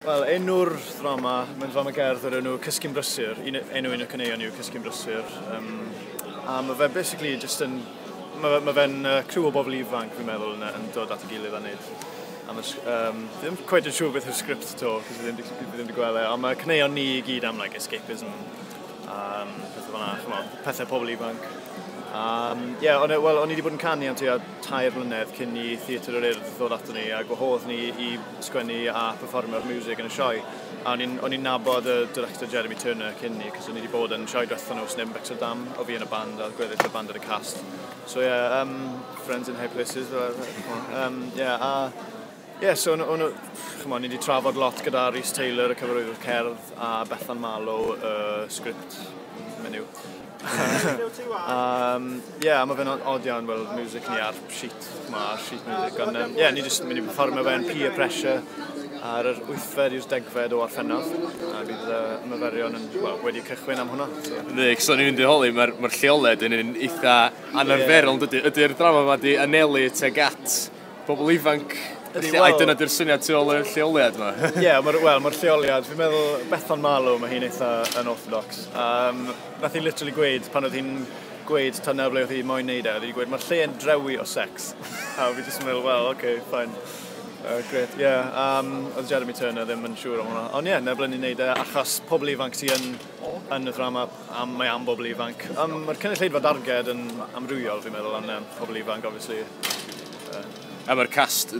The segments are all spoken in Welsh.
Wel, enw'r ddrama, mae'n ddrama gerdd o'r enw Cysgu'n Brysur. Un, enw un o cyneuon yw Cysgu'n Brysur. Um, a mae fe basically just yn... Mae ma fe'n uh, criw o bobl ifanc, fi'n meddwl, yn, yn dod at y gilydd a wneud a mae, um, ddim cweith yn siŵr beth yw'r sgript to, cos ddim, ddim wedi gweld e, ond mae cyneuon ni i gyd am like, escapism, um, pethau fanna, chymol, pethau pobl ifanc. Um, yeah, on, e, well, o'n i wedi bod yn canu am tua tair mlynedd cyn i Theatr yr Urdd ddod ato ni a gwahodd ni i sgwennu a pherfformio'r miwsig yn y sioe. A o'n i'n, o'n i'n nabod y director Jeremy Turner cyn ni, cos o'n i wedi bod yn sioe diwethaf nhw sy'n Bector Dam, o fi yn y band a gweddill y band ar y cast. So ie, yeah, um, friends in high places, fel um, yeah, a Ie, yeah, so o'n, chymod, ni wedi trafod lot gyda Rhys Taylor, y cyfarwyddwr cerdd, a Bethan Marlow, y uh, sgript menyw. um, yeah, mae fe'n od iawn weld music ni ar sheet, mae ar sheet music, ond um, yeah, ni jyst yn mynd i performio fe'n peer pressure ar yr 8fed i'r degfed o Orffennaf, a bydd y uh, myferion yn, well, wedi cychwyn am hwnna. So. Ydy, cos o'n i'n mynd i holi, mae'r ma lleoled yn un eitha anarferol, yeah. ydy'r drama yma di anelu teg at pobl ifanc. Ydy, wel... Dyna di'r syniad tu ôl i'r lleoliad yma. Ie, yeah, mae'r well, ma lleoliad, fi'n meddwl Bethan Malo, mae hi'n eitha yn orthodox. Um, nath hi literally gweud, pan oedd hi'n gweud tan nawr ble oedd hi moyn neud e, oedd hi'n gweud, mae'r lle yn drewi o sex. a fi jyst yn meddwl, well, okay, fine. Uh, great, ie. Yeah. Um, oedd Jeremy Turner ddim yn siŵr am hwnna. Ond ie, yeah, nebl yn ei wneud e, achos pobl ifanc sy'n yn, yn y ddrama Am, mae am bobl ifanc. Um, Mae'r cynulleidfa darged yn amrywiol, fi'n meddwl, ond um, pobl ifanc, obviously. Uh, a mae'r cast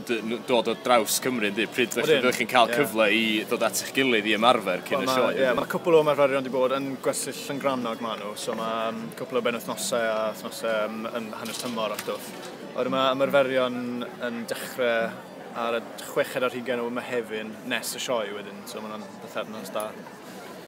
dod o draws Cymru, ynddi? Pryd ydych chi'n cael yeah. cyfle i ddod at eich gilydd i ymarfer cyn well, y sioe? Yeah, mae cwpl o ymarferion wedi bod yn gwersyll llyngranog maen nhw, so mae um, cwpl o benwthnosau a thnosau um, yn hanner tymor a stwff. Oed mae ymarferion yn dechrau ar y chweched ar hugen o Mehefin nes y sioe wedyn, so mae'n bythefnos da.